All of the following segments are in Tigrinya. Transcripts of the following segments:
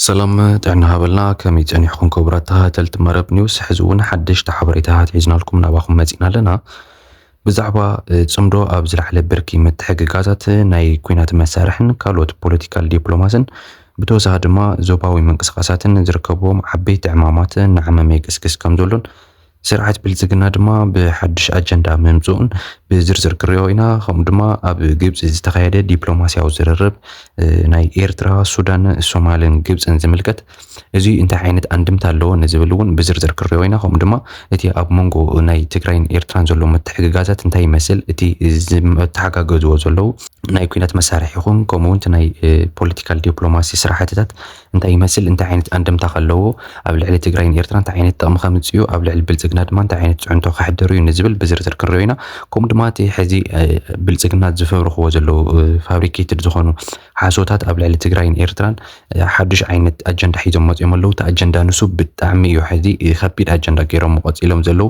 ሰላም ጥዕና ሃበልና ከመይ ጸኒሕኩም ክቡራት ተኸታተልቲ መረብ ኒውስ ሕዚ እውን ሓደሽቲ ሓበሬታታት ሒዝናልኩም ናባኹም መጺና ኣለና ብዛዕባ ጽምዶ ኣብ ዝለዓለ ብርኪ ምትሕግጋዛት ናይ ኩናት መሳርሕን ካልኦት ፖለቲካል ዲፕሎማስን ብተወሳኺ ድማ ዞባዊ ምንቅስቃሳትን ዝርከብዎም ዓበይቲ ዕማማት ንዓመመ ይግስግስ ከም ዘሎን ስርዓት ብልጽግና ድማ ብሓድሽ ኣጀንዳ ምምጽኡን ብዝርዝር ክንሪኦ ኢና። ከምኡ ድማ ኣብ ግብጺ ዝተኻየደ ዲፕሎማስያዊ ዝርርብ ናይ ኤርትራ፣ ሱዳን፣ ሶማልን ግብጽን ዝምልከት እዚ እንታይ ዓይነት ኣንድምታ ኣለዎ ንዝብል እውን ብዝርዝር ክንሪኦ ኢና። ከምኡ ድማ እቲ ኣብ መንጎ ናይ ትግራይን ኤርትራን ዘሎ ምትሕግጋዛት እንታይ ይመስል፣ እቲ ዝተሓጋገዝዎ ዘለዉ ናይ ኩናት መሳርሒ ይኹን ከምኡ እውን እቲ ናይ ፖለቲካል ዲፕሎማሲ ስራሕትታት እንታይ ይመስል፣ እንታይ ዓይነት ኣንደምታ ከለዎ፣ ኣብ ልዕሊ ትግራይን ኤርትራ እንታይ ዓይነት ጥቕሚ ከምጽእዩ፣ ኣብ ልዕሊ ብልጽግና ድማ እንታይ ዓይነት ጽዕንቶ ከሕድርዩ ንዝብል ብዝርዝር ክንሪኦ ኢና። ከምኡ ድማ እቲ ሕዚ ብልጽግና ዝፈብርኽዎ ዘለዉ ፋብሪኬትድ ዝኾኑ ሓሶታት ኣብ ልዕሊ ትግራይን ኤርትራን ሓዱሽ ዓይነት ኣጀንዳ ሒዞም መጽኦም ኣለዉ። እቲ ኣጀንዳ ንሱ ብጣዕሚ እዩ ሕዚ ከቢድ ኣጀንዳ ገይሮም ቀጺሎም ዘለዉ።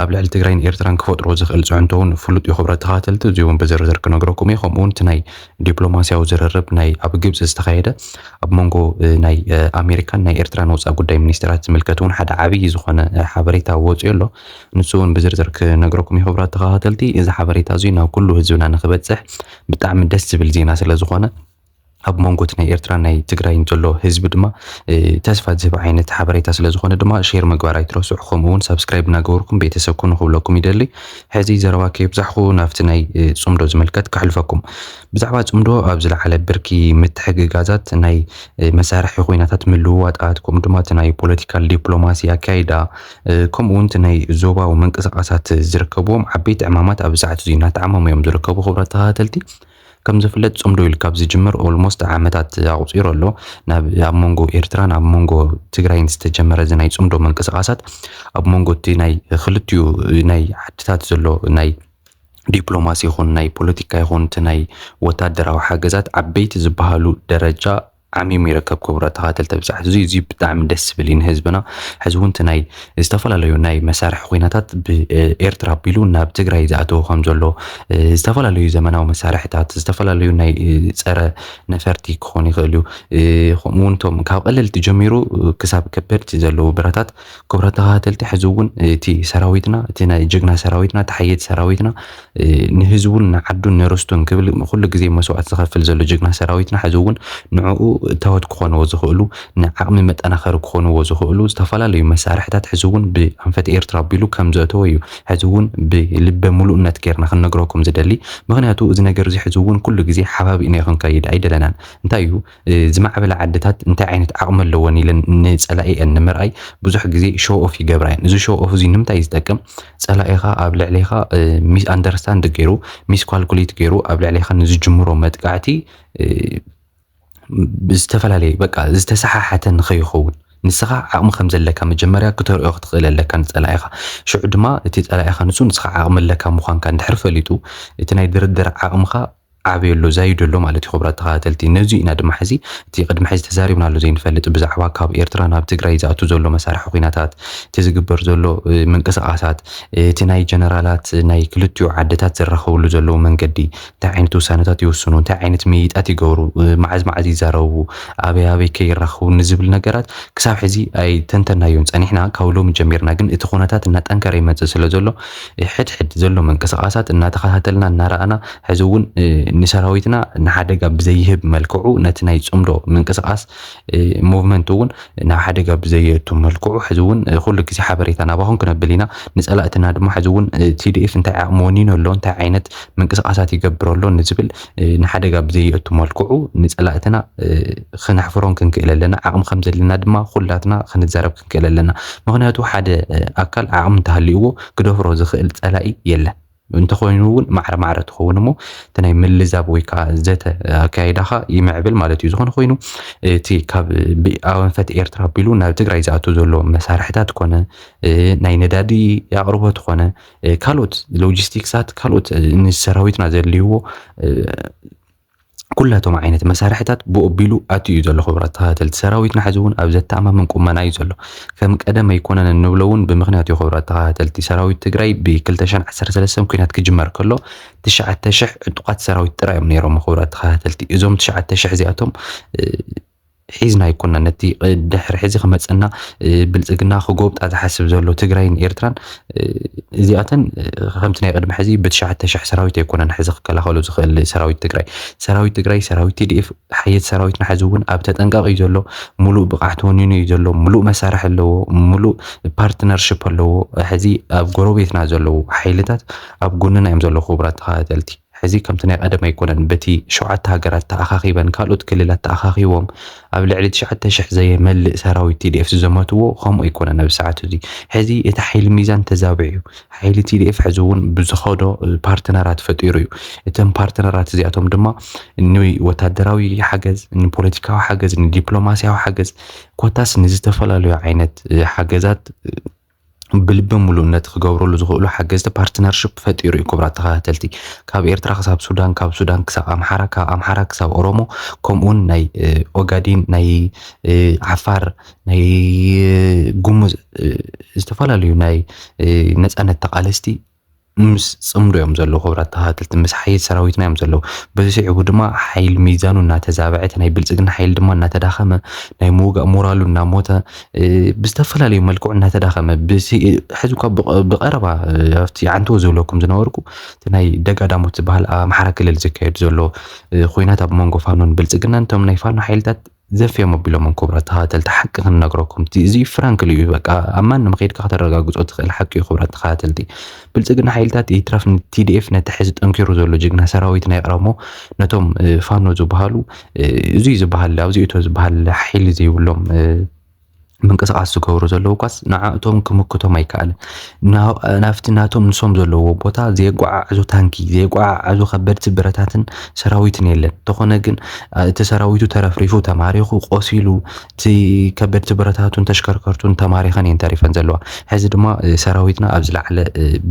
ኣብ ልዕሊ ትግራይን ኤርትራን ክፈጥሮ ዝኽእል ጽዕንቶውን ፍሉጥ እዩ ክብረት ተኸታተልቲ፣ እዚውን ብዝርዝር ክነግረኩም እየ። ከምኡውን እቲ ናይ ዲፕሎማስያዊ ዝርርብ ናይ ኣብ ግብጺ ዝተኻየደ ኣብ መንጎ ናይ ኣሜሪካን ናይ ኤርትራን ወጻኢ ጉዳይ ሚኒስተራት ዝምልከት እውን ሓደ ዓብዪ ዝኾነ ሓበሬታ ወፂኡ ኣሎ። ንሱ እውን ብዝርዝር ክነግረኩም እዩ። ክቡራት ተኸታተልቲ እዚ ሓበሬታ እዙይ ናብ ኩሉ ህዝብና ንክበፅሕ ብጣዕሚ ደስ ዝብል ዜና ስለ ዝኾነ ኣብ መንጎት ናይ ኤርትራ ናይ ትግራይን ዘሎ ህዝቢ ድማ ተስፋ ዝህብ ዓይነት ሓበሬታ ስለ ዝኾነ ድማ ሼር ምግባር ኣይትረስዑ ከምኡውን ሳብስክራይብ እናገበርኩም ቤተሰብ ኩኑ ክብለኩም ይደሊ ሕዚ ዘረባ ከየብዛሕኹ ናብቲ ናይ ጽምዶ ዝምልከት ከሕልፈኩም። ብዛዕባ ጽምዶ ኣብ ዝለዓለ ብርኪ ምትሕግጋዛት፣ ናይ መሳርሒ ኩይናታት ምልውዋጣት፣ ከምኡ ድማ እቲ ናይ ፖለቲካል ዲፕሎማሲ ኣካይዳ፣ ከምኡ እውን እቲ ናይ ዞባዊ ምንቅስቃሳት ዝርከብዎም ዓበይቲ ዕማማት ኣብዚ ሰዓት እዚ እናተዓመሙ እዮም ዝርከቡ። ክቡራት ተኸታተልቲ። ከም ዝፍለጥ ጽምዶ ኢልካ ኣብ ዝጅምር ኦልሞስት ዓመታት ኣቑጺሩ ኣሎ። ናብ ኣብ መንጎ ኤርትራን ኣብ መንጎ ትግራይን ዝተጀመረ እዚ ናይ ጽምዶ ምንቅስቓሳት ኣብ መንጎ እቲ ናይ ክልቲኡ ናይ ዓድታት ዘሎ ናይ ዲፕሎማሲ ይኹን ናይ ፖለቲካ ይኹን እቲ ናይ ወታደራዊ ሓገዛት ዓበይቲ ዝበሃሉ ደረጃ ዓሚሙ ይርከብ ክቡራት ተኸታተልቲ ብፅሐት እዙይ እዙይ ብጣዕሚ ደስ ዝብል እዩ ንህዝብና ሕዚ እውን እቲ ናይ ዝተፈላለዩ ናይ መሳርሒ ኩናታት ብኤርትራ ኣቢሉ ናብ ትግራይ ዝኣተወ ከም ዘሎ ዝተፈላለዩ ዘመናዊ መሳርሕታት ዝተፈላለዩ ናይ ፀረ ነፈርቲ ክኾኑ ይኽእሉ ከምኡውን እቶም ካብ ቀለልቲ ጀሚሩ ክሳብ ከበድቲ ዘለዉ ብረታት ክቡራት ተኸታተልቲ ሕዚ እውን እቲ ሰራዊትና እቲ ናይ ጀግና ሰራዊትና እቲ ሓየት ሰራዊትና ንህዝቡን ንዓዱን ንርስቱን ክብል ኩሉ ግዜ መስዋእቲ ዝኸፍል ዘሎ ጀግና ሰራዊትና ሕዚ እውን ንዕኡ እታወት ክኾንዎ ዝኽእሉ ንዓቕሚ መጠናኸሪ ክኾንዎ ዝኽእሉ ዝተፈላለዩ መሳርሕታት ሕዚ እውን ብኣንፈት ኤርትራ ኣቢሉ ከም ዘእተወ እዩ ሕዚ እውን ብልበ ምሉእነት ጌርና ክንነግረኩም ዝደሊ ምክንያቱ እዚ ነገር እዚ ሕዚ እውን ኩሉ ግዜ ሓባቢእና ክንከይድ ኣይደለናን እንታይ እዩ ዝማዕበላ ዓድታት እንታይ ዓይነት ዓቕሚ ኣለወን ኢለን ንጸላኢኤን ንምርኣይ ብዙሕ ግዜ ሾው ኦፍ ይገብራ እየን። እዚ ሾው ኦፍ እዚ ንምንታይ ዝጠቅም ጸላኢኻ ኣብ ልዕሌኻ ሚስ ኣንደርስታንድ ገይሩ ሚስ ኳልኩሌት ገይሩ ኣብ ልዕሌኻ ንዝጅምሮ መጥቃዕቲ ዝተፈላለየ በቃ ዝተሰሓሓተ ንኸይኸውን ንስኻ ዓቕሚ ከም ዘለካ መጀመርያ ክተርእዮ ክትኽእል ኣለካ ንጸላኢኻ ሽዑ ድማ እቲ ጸላኢኻ ንሱ ንስኻ ዓቕሚ ኣለካ ምዃንካ እንድሕር ፈሊጡ እቲ ናይ ድርድር ዓቕምኻ ዓብዩ ኣሎ ዛይዱ ኣሎ ማለት እዩ ክቡራት ተኸታተልቲ ነዙይ ኢና ድማ ሕዚ እቲ ቅድሚ ሕዚ ተዛሪብናሉ ዘይንፈልጥ ብዛዕባ ካብ ኤርትራ ናብ ትግራይ ዝኣቱ ዘሎ መሳርሒ ኹናታት እቲ ዝግበር ዘሎ ምንቅስቓሳት እቲ ናይ ጀነራላት ናይ ክልቲኡ ዓድታት ዝራኸብሉ ዘለዉ መንገዲ እንታይ ዓይነት ውሳነታት ይውስኑ እንታይ ዓይነት ምይይጣት ይገብሩ መዓዝ መዓዝ ይዛረቡ ኣበይ ኣበይ ከ ይራኸቡ ንዝብል ነገራት ክሳብ ሕዚ ኣይተንተናዮን ፀኒሕና ካብ ሎሚ ጀሚርና ግን እቲ ኹነታት እናጠንከረ ይመፅእ ስለ ዘሎ ሕድ ሕድ ዘሎ ምንቅስቓሳት እናተኸታተልና እናረኣና ሕዚ እውን ንሰራዊትና ንሓደጋ ብዘይህብ መልክዑ ነቲ ናይ ፅምዶ ምንቅስቓስ ሞቭመንት እውን ናብ ሓደጋ ብዘየቱ መልክዑ ሕዚ እውን ኩሉ ግዜ ሓበሬታ ናባኹም ክነብል ኢና ንፀላእትና ድማ ሕዚ እውን ቲዲኤፍ እንታይ ዓቕሚ ወኒኑ ኣሎ እንታይ ዓይነት ምንቅስቓሳት ይገብር ኣሎ ንዝብል ንሓደጋ ብዘየእቱ መልክዑ ንጸላእትና ክነሕፍሮም ክንክእል ኣለና። ዓቕሚ ከም ዘለና ድማ ኩላትና ክንዛረብ ክንክእል ኣለና። ምክንያቱ ሓደ ኣካል ዓቕሚ እንተሃልይዎ ክደፍሮ ዝኽእል ጸላኢ የለን። እንተኾይኑ እውን ማዕረ ማዕረ ትኸውን እሞ እቲ ናይ ምልዛብ ወይ ከዓ ዘተ ኣካይዳኻ ይምዕብል ማለት እዩ። ዝኾነ ኮይኑ እቲ ካብ ኣንፈት ኤርትራ ኣቢሉ ናብ ትግራይ ዝኣቱ ዘሎ መሳርሕታት ኮነ ናይ ነዳዲ ኣቕርቦት ኮነ ካልኦት ሎጂስቲክሳት ካልኦት ንሰራዊትና ዘድልይዎ ኩላቶም ዓይነት መሳርሕታት ብኦቢሉ ኣትዩ እዩ ዘሎ ክቡራት ተኸታተልቲ ሰራዊትና ሕዚ እውን ኣብ ዘተኣማምን ቁመና እዩ ዘሎ ከም ቀደም ኣይኮነን እንብሎ እውን ብምክንያት እዩ ክቡራት ተኸታተልቲ ሰራዊት ትግራይ ብ213 ኩናት ክጅመር ከሎ 9000 ዕጡቓት ሰራዊት ጥራይ እዮም ነይሮም ክቡራት ተኸታተልቲ እዞም 9000 እዚኣቶም ሒዝና ኣይኮናን ነቲ ድሕሪ ሕዚ ክመፀና ብልፅግና ክጎብጣ ዝሓስብ ዘሎ ትግራይን ኤርትራን እዚኣተን ከምቲ ናይ ቅድሚ ሕዚ ብትሽዓተ ሽሕ ሰራዊት ኣይኮነን ሕዚ ክከላኸሉ ዝኽእል ሰራዊት ትግራይ ሰራዊት ትግራይ ሰራዊት ቲዲኤፍ ሓየት ሰራዊትና ሕዚ እውን ኣብ ተጠንቀቕ እዩ ዘሎ ሙሉእ ብቕዓት ወኒኑ እዩ ዘሎ ሙሉእ መሳርሒ ኣለዎ ሙሉእ ፓርትነርሽፕ ኣለዎ ሕዚ ኣብ ጎረቤትና ዘለዉ ሓይልታት ኣብ ጎንና እዮም ዘለዉ ክቡራት ተኸታተልቲ ሕዚ ከምቲ ናይ ቐደም ኣይኮነን በቲ ሸውዓተ ሃገራት ተኣኻኺበን ካልኦት ክልላት ተኣኻኺቦም ኣብ ልዕሊ ትሽዓተ ሽሕ ዘየመልእ ሰራዊት tdf ዝዘመትዎ ከምኡ ኣይኮነን ኣብዚ ሰዓት እዙይ ሕዚ እቲ ሓይሊ ሚዛን ተዛቢዑ እዩ ሓይሊ tdf ሕዚ እውን ብዝኸዶ ፓርትነራት ፈጢሩ እዩ እተን ፓርትነራት እዚኣቶም ድማ ንወታደራዊ ሓገዝ ንፖለቲካዊ ሓገዝ ንዲፕሎማሲያዊ ሓገዝ ኮታስ ንዝተፈላለዩ ዓይነት ሓገዛት ብልቢ ሙሉእነት ክገብረሉ ዝኽእሉ ሓገዝቲ ፓርትነርሽፕ ፈጢሩ እዩ። ክቡራት ተኸታተልቲ ካብ ኤርትራ ክሳብ ሱዳን፣ ካብ ሱዳን ክሳብ ኣምሓራ፣ ካብ ኣምሓራ ክሳብ ኦሮሞ ከምኡውን ናይ ኦጋዴን፣ ናይ ዓፋር፣ ናይ ጉሙዝ ዝተፈላለዩ ናይ ነጻነት ተቓለስቲ ምስ ጽምዶ እዮም ዘለዉ ክብራት ተኸታተልቲ ምስ ሓይል ሰራዊትና እዮም ዘለዉ በዚ ስዒቡ ድማ ሓይል ሚዛኑ እናተዛበዐ እቲ ናይ ብልጽግና ሓይል ድማ እናተዳኸመ ናይ ምውጋእ ሞራሉ እናሞተ ብዝተፈላለዩ መልክዑ እናተዳኸመ ሕዚ እኳ ብቐረባ ኣብቲ ዓንተዎ ዝብለኩም ዝነበርኩ እቲ ናይ ደጋዳሞት ዝበሃል ኣብ ኣምሓራ ክልል ዝካየድ ዘሎ ኩናት ኣብ መንጎ ፋኖን ብልጽግናን እቶም ናይ ፋኖ ሓይልታት ዘፍዮም ኣቢሎምም ኩቡራት ተኻታተልቲ ሓቂ ክንነግረኩም እቲ እዚ ፍራንክሊ እዩ በቃ ኣብ ማንም ከይድካ ከተረጋግጾ ትኽእል ሓቂ እዩ ኩቡራት ተኻታተልቲ ብልጽግና ሓይልታት ይትረፍ ን TDF ነቲ ሕዚ ጠንኪሩ ዘሎ ጅግና ሰራዊትና ይቕረሞ ነቶም ፋኖ ዝብሃሉ እዙይ ዝብሃል ኣብዚኡቶ ዝብሃል ሓይሊ ዘይብሎም ምንቅስቓስ ዝገብሩ ዘለዉ ኳስ ንዓእቶም ክምክቶም ኣይከኣልን። ናብቲ ናቶም ንሶም ዘለዎ ቦታ ዘየጓዓዕዙ ታንኪ፣ ዘየጓዓዕዙ ከበድቲ ብረታትን ሰራዊትን የለን። እንተኾነ ግን እቲ ሰራዊቱ ተረፍሪፉ፣ ተማሪኹ፣ ቆሲሉ፣ እቲ ከበድቲ ብረታቱን ተሽከርከርቱን ተማሪኸን እየን ተሪፈን ዘለዋ። ሕዚ ድማ ሰራዊትና ኣብ ዝለዓለ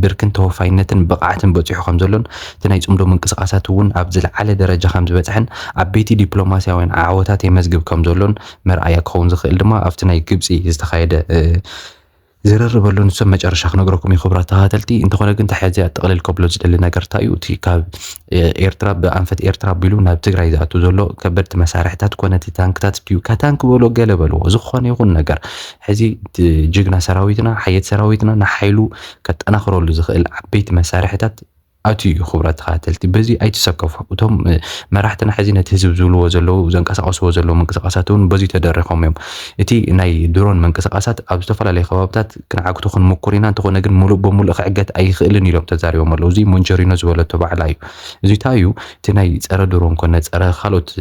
ብርክን ተወፋይነትን ብቕዓትን በፂሑ ከም ዘሎን እቲ ናይ ፅምዶ ምንቅስቓሳት እውን ኣብ ዝለዓለ ደረጃ ከም ዝበፅሐን ዓበይቲ ዲፕሎማሲያውያን ዓወታት የመዝግብ ከም ዘሎን መርኣያ ክኸውን ዝኽእል ድማ ኣብቲ ናይ ግብጺ ዝተኻየደ ዝርርብ ኣሎ ንሶም መጨረሻ ክነግረኩም እዩ ክብራት ተኸታተልቲ እንተኾነ ግን ተሓዚ ኣጠቕልል ከብሎ ዝደሊ ነገር እንታይ እዩ እቲ ካብ ኤርትራ ብኣንፈት ኤርትራ ኣቢሉ ናብ ትግራይ ዝኣቱ ዘሎ ከበድቲ መሳርሕታት ኮነ እቲ ታንክታት ድዩ ካታንክ በሎ ገለ በልዎ ዝኾነ ይኹን ነገር ሕዚ ጅግና ሰራዊትና ሓየት ሰራዊትና ንሓይሉ ከጠናኽረሉ ዝኽእል ዓበይቲ መሳርሕታት ኣትዩ እዩ ክብረት ተኸታተልቲ በዚ ኣይትሰከፉ እቶም መራሕትና ሕዚ ነቲ ህዝብ ዝብልዎ ዘለዉ ዘንቀሳቐስዎ ዘለዉ ምንቅስቓሳት እውን በዚ ተደሪኾም እዮም እቲ ናይ ድሮን ምንቅስቓሳት ኣብ ዝተፈላለዩ ከባብታት ክንዓግቶ ክንምኩር ኢና እንተኾነ ግን ሙሉእ በሙሉእ ክዕገት ኣይኽእልን ኢሎም ተዛሪቦም ኣለዉ እዚ ሞንቸሪኖ ዝበለቶ ባዕላ እዩ እዚታ እዩ እቲ ናይ ፀረ ድሮን ኮነ ፀረ ካልኦት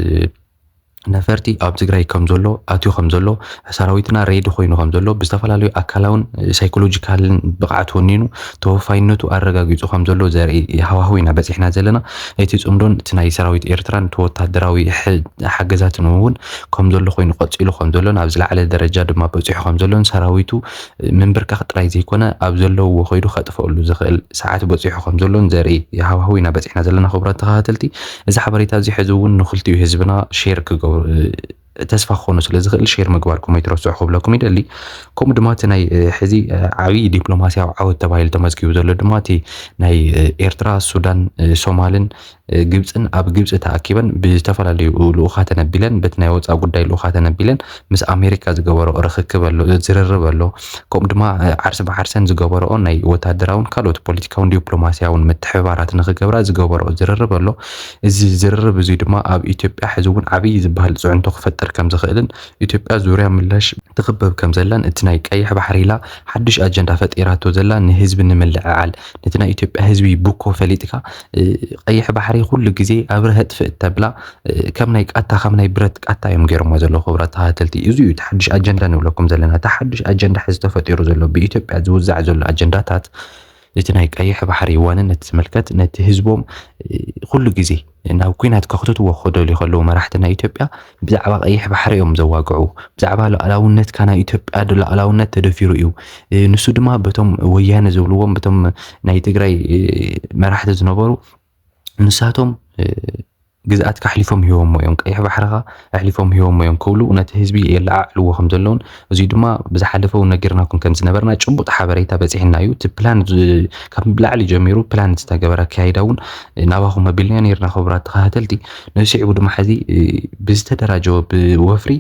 ነፈርቲ ኣብ ትግራይ ከም ዘሎ ኣትዩ ከም ዘሎ ሰራዊትና ሬዲ ኮይኑ ከም ዘሎ ብዝተፈላለዩ ኣካላውን ሳይኮሎጂካልን ብቕዓት ወኒኑ ተወፋይነቱ ኣረጋጊፁ ከም ዘሎ ዘርኢ ሃዋህው ኢና በፂሕና ዘለና እቲ ፅምዶን እቲ ናይ ሰራዊት ኤርትራን እቲ ወታደራዊ ሓገዛትን እውን ከም ዘሎ ኮይኑ ቀፂሉ ከም ዘሎን ኣብ ዝለዓለ ደረጃ ድማ በፂሑ ከም ዘሎን ሰራዊቱ ምንብርካኽ ጥራይ ዘይኮነ ኣብ ዘለውዎ ከይዱ ከጥፈሉ ዝኽእል ሰዓት በፂሑ ከም ዘሎን ዘርኢ ሃዋህው ኢና በፂሕና ዘለና ክቡራት ተኸታተልቲ እዚ ሓበሬታ እዚ ሕዚ እውን ንክልቲኡ ህዝብና ሼር ክገብሩ ተስፋ ክኾኑ ስለ ዝኽእል ሼር ምግባርኩም ኣይትረስዑ ክብለኩም ይደሊ ከምኡ ድማ እቲ ናይ ሕዚ ዓብዪ ዲፕሎማስያዊ ዓወት ተባሂሉ ተመዝጊቡ ዘሎ ድማ እቲ ናይ ኤርትራ ሱዳን ሶማልን ግብፅን ኣብ ግብፂ ተኣኪበን ብዝተፈላለዩ ልኡኻ ተነቢለን በቲ ናይ ወፃእ ጉዳይ ልኡኻ ተነቢለን ምስ ኣሜሪካ ዝገበረኦ ርኽክብ ኣሎ፣ ዝርርብ ኣሎ፣ ከምኡ ድማ ዓርሰ ብዓርሰን ዝገበረኦ ናይ ወታደራውን ካልኦት ፖለቲካውን ዲዮፕሎማሲያውን ምትሕብባራት ንኽገብራ ዝገበረኦ ዝርርብ ኣሎ። እዚ ዝርርብ እዙይ ድማ ኣብ ኢትዮጵያ ሕዚ እውን ዓብዪ ዝበሃል ፅዕንቶ ክፈጥር ከም ዝኽእልን ኢትዮጵያ ዙርያ ምላሽ ትኽበብ ከም ዘላን እቲ ናይ ቀይሕ ባሕሪ ኢላ ሓዱሽ ኣጀንዳ ፈጢራቶ ዘላ ንህዝቢ ንምልዕዓል ነቲ ናይ ኢትዮጵያ ህዝቢ ቡኮ ፈሊጥካ ቀይሕ ባሕሪ ኩሉ ግዜ ኣብ ርህጥፊ እተብላ ከም ናይ ቃታ ከም ናይ ብረት ቃታ እዮም ገይሮሞ ዘለዉ ክብራ ተኸታተልቲ እዚ እዩ ተሓድሽ ኣጀንዳ ንብለኩም ዘለና ተሓድሽ ኣጀንዳ ሕዚ ተፈጢሩ ዘሎ ብኢትዮጵያ ዝውዛዕ ዘሎ ኣጀንዳታት እቲ ናይ ቀይሕ ባሕሪ ዋንነት ዝምልከት ነቲ ህዝቦም ኩሉ ግዜ ናብ ኩናት ከኽትትዎ ክደልዩ ከለዉ መራሕቲ ናይ ኢትዮጵያ ብዛዕባ ቀይሕ ባሕሪ እዮም ዘዋግዑ ብዛዕባ ሉኣላውነትካ ናይ ኢትዮጵያ ሉኣላውነት ተደፊሩ እዩ ንሱ ድማ በቶም ወያነ ዝብልዎም በቶም ናይ ትግራይ መራሕቲ ዝነበሩ ንሳቶም ግዝኣትካ ኣሕሊፎም ሂቦሞ እዮም ቀይሕ ባሕርኻ ኣሕሊፎም ሂቦሞ እዮም ክብሉ ነቲ ህዝቢ የለዓዕልዎ ከም ዘለውን እዙይ ድማ ብዝሓለፈ እውን ነጊርናኩም ከም ዝነበርና ጭቡጥ ሓበሬታ በፂሕና እዩ። እቲ ፕላን ካብ ላዕሊ ጀሚሩ ፕላን ዝተገበረ ኣካይዳ እውን ናባኹም ኣቢልና ነይርና ክቡራት ተኸታተልቲ። ነዚ ስዒቡ ድማ ሕዚ ብዝተደራጀወ ብወፍሪ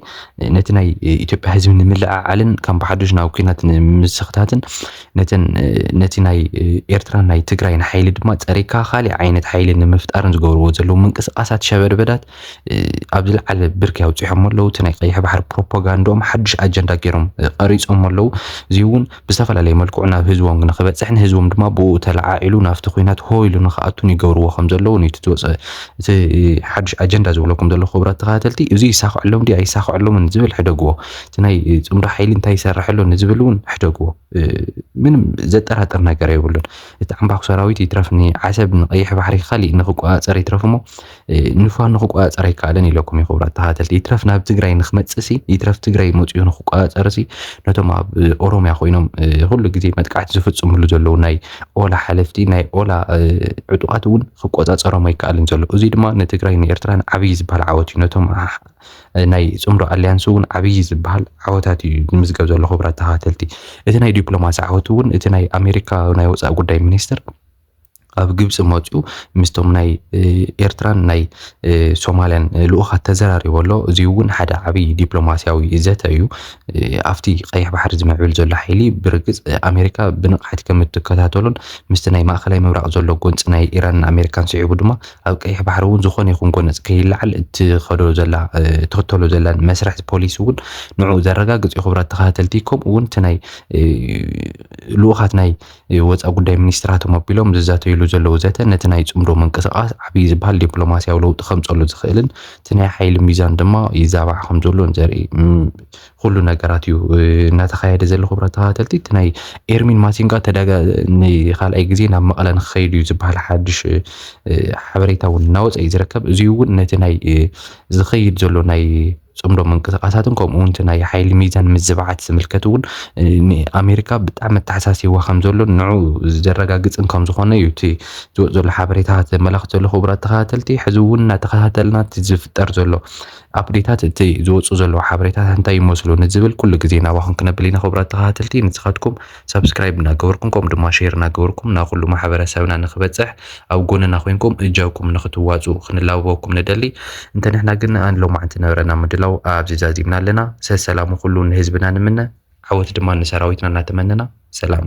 ነቲ ናይ ኢትዮጵያ ህዝቢ ንምልዕዓልን ከም ብሓዱሽ ናብ ኩናት ንምስኽታትን ነተን ነቲ ናይ ኤርትራን ናይ ትግራይን ሓይሊ ድማ ፀሪግካ ካሊእ ዓይነት ሓይሊ ንምፍጣርን ዝገብርዎ ዘለዉ ምንቅስቓሳት ሸበድበዳት ኣብ ዝለዓለ ብርኪ ኣውፂሖሞ ኣለዉ። እቲ ናይ ቀይሕ ባሕሪ ፕሮፓጋንድኦም ሓዱሽ ኣጀንዳ ገይሮም ቐሪፆሞ ኣለዉ። እዚ እውን ብዝተፈላለየ መልክዑ ናብ ህዝቦም ንክበፅሕን ህዝቦም ድማ ብኡ ተለዓዒሉ ናብቲ ኩናት ሆ ኢሉ ንክኣቱን ይገብርዎ ከም ዘለዉን እዩ እቲ ዝወፀ እቲ ሓዱሽ ኣጀንዳ ዝብለኩም ዘለኹ ክቡራት ተኸታተልቲ። እዚ ይሳኸዐሎም ድዩ ኣይሳኸዐሎምን ዝብል ሕደግዎ። እቲ ናይ ፅምዶ ሓይሊ እንታይ ይሰርሕ ኣሎ ንዝብል እውን ሕደግዎ። ምንም ዘጠራጥር ነገር የብሉን። እቲ ዓምባኹ ሰራዊት ይትረፍ ንዓሰብ ንቀይሕ ባሕሪ ካሊእ ንክቆፃፀር ይትረፍ እሞ ንፋኖ ክቆጻጸር ኣይከኣለን ኢለኩም ይኽብራት ተኸታተልቲ ይትረፍ ናብ ትግራይ ንክመጽእሲ ይትረፍ ትግራይ መጽኡ ንክቆጻጸርሲ ነቶም ኣብ ኦሮምያ ኮይኖም ኩሉ ግዜ መጥቃዕቲ ዝፍጽምሉ ዘለዉ ናይ ኦላ ሓለፍቲ ናይ ኦላ ዕጡቓት እውን ክቆጻጸሮም ኣይከኣልን ዘሎ እዚ ድማ ንትግራይ ንኤርትራን ዓብዪ ዝበሃል ዓወት እዩ ነቶም ናይ ጽምዶ ኣሊያንስ እውን ዓብዪ ዝበሃል ዓወታት እዩ ዝምዝገብ ዘሎ ክብራት ተኸታተልቲ እቲ ናይ ዲፕሎማሲ ዓወት እውን እቲ ናይ ኣሜሪካ ናይ ወፃኢ ጉዳይ ሚኒስትር ኣብ ግብፂ መፅኡ ምስቶም ናይ ኤርትራን ናይ ሶማልያን ልኡኻት ተዘራሪቦ ኣሎ። እዚ እውን ሓደ ዓብይ ዲፕሎማስያዊ ዘተ እዩ። ኣብቲ ቀይሕ ባሕሪ ዝምዕብል ዘሎ ሓይሊ ብርግፅ ኣሜሪካ ብንቕሓት ከም እትከታተሎን ምስቲ ናይ ማእኸላይ ምብራቕ ዘሎ ጎንፂ ናይ ኢራንን ኣሜሪካን ስዒቡ ድማ ኣብ ቀይሕ ባሕሪ እውን ዝኾነ ይኹን ጎነፅ ከይለዓል እትኸዶ ዘላ እትኽተሎ ዘላን መስርሕ ፖሊሲ እውን ንዕኡ ዘረጋግፅ እዩ። ክቡራት ተኸታተልቲ ከምኡ እውን እቲ ናይ ልኡኻት ናይ ወፃኢ ጉዳይ ሚኒስትራቶም ኣቢሎም ዝዛተይሉ ዘለዉ ዘተ ነቲ ናይ ፅምዶ ምንቅስቓስ ዓብዪ ዝበሃል ዲፕሎማሲያዊ ለውጢ ከምፀሉ ዝኽእልን እቲ ናይ ሓይሊ ሚዛን ድማ ይዛባዕ ከምዘሎን ዘርኢ ኩሉ ነገራት እዩ እናተኻየደ ዘሎ ክብራት ተኸታተልቲ እቲ ናይ ኤርሚን ማሲንጋ ተዳጋ ንካልኣይ ግዜ ናብ መቐለ ንክኸይድ እዩ ዝበሃል ሓድሽ ሓበሬታ እውን እናወፀ እዩ ዝርከብ እዚ እውን ነቲ ናይ ዝኸይድ ዘሎ ናይ ጽምዶ ምንቅስቓሳትን ከምኡውን እቲ ናይ ሓይሊ ሚዛን ምዝባዓት ዝምልከት እውን ንኣሜሪካ ብጣዕሚ ኣተሓሳሲዋ ከም ዘሎ ንዑ ዘረጋግጽን ከም ዝኾነ እዩ እቲ ዝወፅ ዘሎ ሓበሬታ ዘመላኽት ዘሎ ክቡራት ተኸታተልቲ ሕዚ እውን እናተኸታተልና እቲ ዝፍጠር ዘሎ ኣፕዴታት እቲ ዝወፁ ዘለዉ ሓበሬታት እንታይ ይመስሉ ንዝብል ኩሉ ግዜ ናባኹም ክነብል ኢና ክቡራት ተኸታተልቲ ንስኻትኩም ሳብስክራይብ እናገበርኩም ከምኡ ድማ ሼር እናገበርኩም ናብ ኩሉ ማሕበረሰብና ንክበፅሕ ኣብ ጎንና ኮይንኩም እጃኩም ንክትዋፅኡ ክንላበበኩም ንደሊ። እንተ ንሕና ግን ን ሎማዕንቲ ንብረና ምድላው ኣብዚ ዛዚምና ኣለና። ሰሰላሙ ኩሉ ንህዝብና ንምነ። ዓወት ድማ ንሰራዊትና እናተመነና ሰላም።